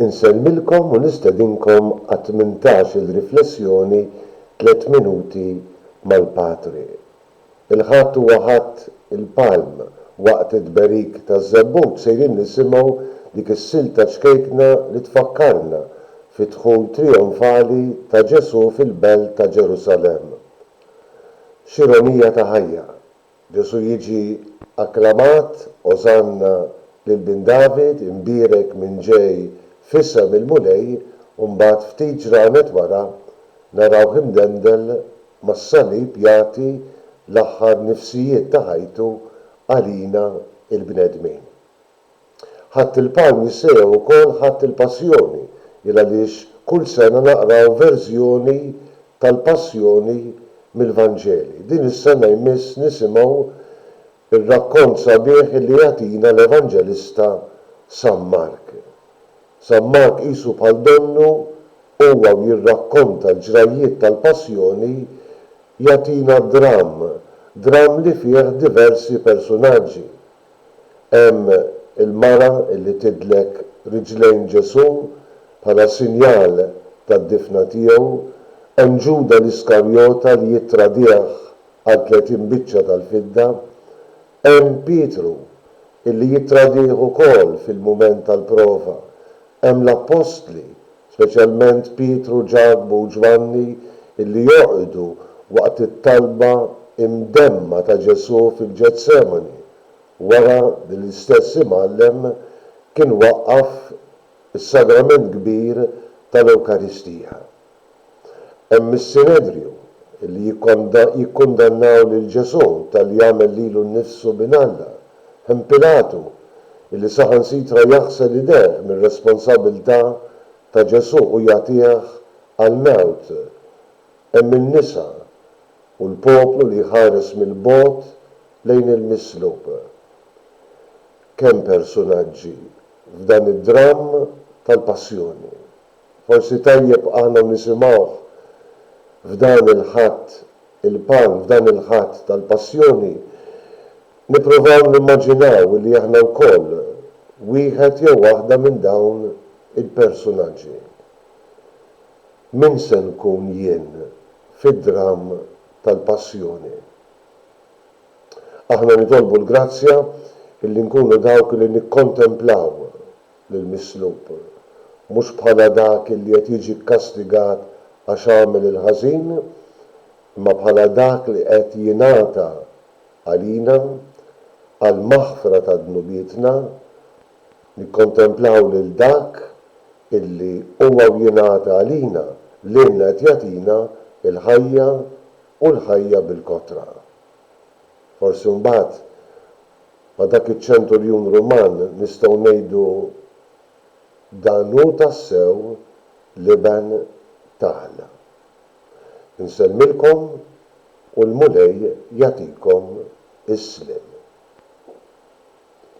Insellmilkom u nistedinkom għat-tmintax-il riflessjoni Tliet Minuti mal-Patri. Il-Ħadd huwa Ħadd il-Palm, waqt it-tberik taż-Żebbut sejrin nisimgħu dik is-silta ċkejkna li tfakkarna fid-dħul trijonfali ta' Ġesù fil-belt ta' Ġerusalemm. X'ironija ta' ħajja, Ġesù jiġi akklamat, Osanna lil Bin David, imbierek min ġej f'isem il-Mulej, u mbagħad ftit ġranet wara narawh imdendel mas-salib jagħti l-aħħar nifsijiet ta' ħajtu għalina l-bnedmin. Ħadt il-palm jissejjaħ ukoll Ħadd il-Passjoni il għaliex kull sena naqraw verżjoni tal-Passjoni mill-Vanġeli. Din is-sena jmiss nisimgħu r-rakkont sabiħ li jagħtina l-Evanġelista San Mark. San Mark qisu bħal donnu, huwa u jirrakkonta l-ġrajjiet tal-Passjoni jagħtina dramm, dramm li fih diversi persunaġġi. Hemm il-mara illi tidlek riġlejn Ġesù bħala sinjal tad-difna tiegħu, hemm Ġuda l-Iskarjota li jittradih għal tletin biċċa tal-fidda, hemm Pietru illi jittradih ukoll fil-mument tal-prova, hemm l-appostli speċjalment Pietru, Ġakbu u Ġwanni, illi joqgħdu waqt it-talba imdemma ta' Ġesù fil-Ġetsemani, wara li l-istess Imgħallem kien waqqaf is-Sagrament Kbir tal-Ewkaristija. Hemm mis-Sinedriju li jikkundannaw lil Ġesù talli għamel lilu nnifsu bin Alla. Hemm Pilatu li saħansitra jaħsel idejh mir-responsabbiltà ta' Ġesù u jagħtih għall-mewt. Hemm in-nisa u l-poplu li jħares mill-bogħod lejn il-mislub. Kemm persunaġġi f'dan id-dramm tal-Passjoni! Forsi tajjeb aħna nisimgħuh f'dan il-Ħadd il-Pan, f'dan il-Ħadd tal-Passjoni, nipprovaw nimmaġinaw li aħna wkoll wieħed jew waħda minn dawn il-persunaġġi. Min se nkun jien fid-dramm tal-Passjoni? Aħna nitolbu l-grazzja li nkunu dawk li nikkontemplaw lill-mislub, mhux bħala dak li qed jiġi kkastigat għax għamel il-ħażin, imma bħala dak li qed jingħata għalina, għall-maħfra ta' dnubietna, nikkontemplaw lil dak illi huwa u jingħata għalina, lilna qed jagħtina l-ħajja u l-ħajja bil-kotra. Forsi mbagħad Ma' dak iċ-ċenturjun Ruman nistgħu ngħidu, Dan hu tassew l-Iben ta' Alla. Insellmilkom u l-Mulej jagħtikom is-sliem.